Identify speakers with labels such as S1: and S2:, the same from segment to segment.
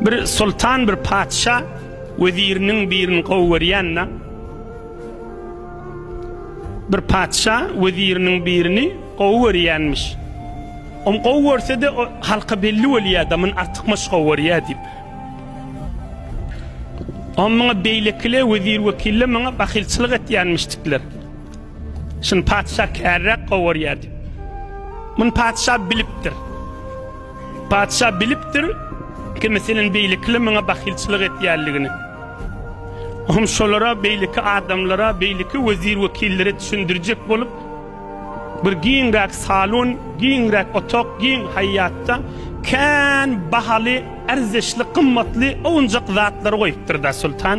S1: Bir soltan bir patyşa weziriniň birini gowy görýände bir patyşa weziriniň birini gowy görýänmiş. Om gowy görse-de halka belli bolýar adamyn artykmaç gowy görýär diýip. Om muňa beýlekile wezir wekille muňa bahylçylyk etýänmişdikler. Şun patyşa kärräk gowy görýär diýip. Mun patyşa bilipdir. Patyşa bilipdir, kim seniň beýlekile maňa bahylçylyk etýänligini. Oňa şolara, beýleki adamlara, beýleki wezir-wekillere düşündirjek bolup, bir giňräk salon, giňräk otag, giň haýýatda kän bahaly, erzeşli, gymmatly, owunjak zatlary goýupdyr-da, soltan.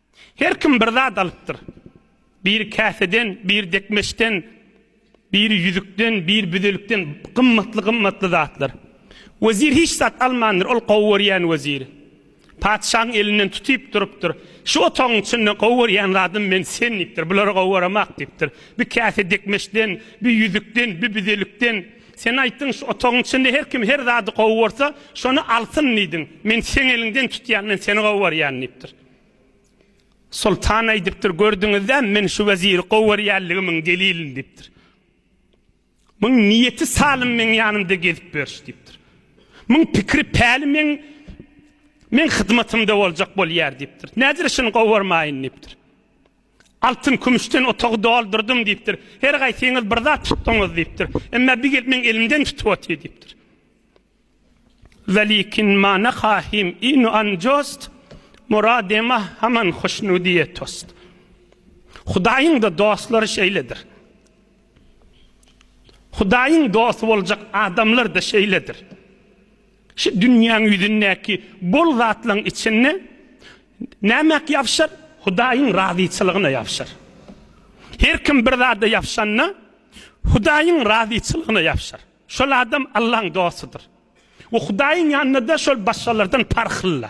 S1: Her kim bir zat alypdyr. Biri käseden, biri dekmeçden, biri ýüzükden, biri büzelikden gymmatly-gymmatly zatlar. Wezir hiç zat almandyr, ol gowy görýän weziri. Patyşaň elinden tutyp durupdyr. Şu otagyň içinde gowy görýän zadym men sen diýipdir. Bulary gowy göremak diýipdir. Bir käse dekmeçden, bir ýüzükden, bir büzelikden. Sen aýtdyň, şu otagyň içinde her kim her zady gowy görse, şony alsyn diýdiň. Men seň eliňden tutýan, men seni gowy görýän diýipdir. Soltan aýdypdyr, Gördüňizdämi, men şu weziri gowy görýänligimiň delilini diýipdir. Muň niýeti salym meň ýanymda gezip ýöriş diýipdir. Muň pikiri päli meň meň hyzmatymda boljak bolýar diýipdir. Nädire şuny gowy görmäýin diýipdir. Altyn kümüşden otagy doldyrdym diýipdir. Her gaýsyňyz bir zat tutdyňyz diýipdir. Emma bir gelip meň elimden tutup otyr diýipdir. Welikin ma na khahim inu an jost, Murade ma haman hoşnudiye tost. Hudaýyň-da dostlary şeýledir. Hudaýyň dosty boljak adamlar-da şeýledir. Şu dünýäň ýüzündäki bol zatlaryň içinde näme ýapyşar? Hudaýyň razyçylygyna ýapyşar. Her kim bir zada ýapyşanda, Hudaýyň razyçylygyna ýapyşar. Şol adam Allahyň dostudyr we Hudaýyň ýanynda-da şol başgalardan parhlyla.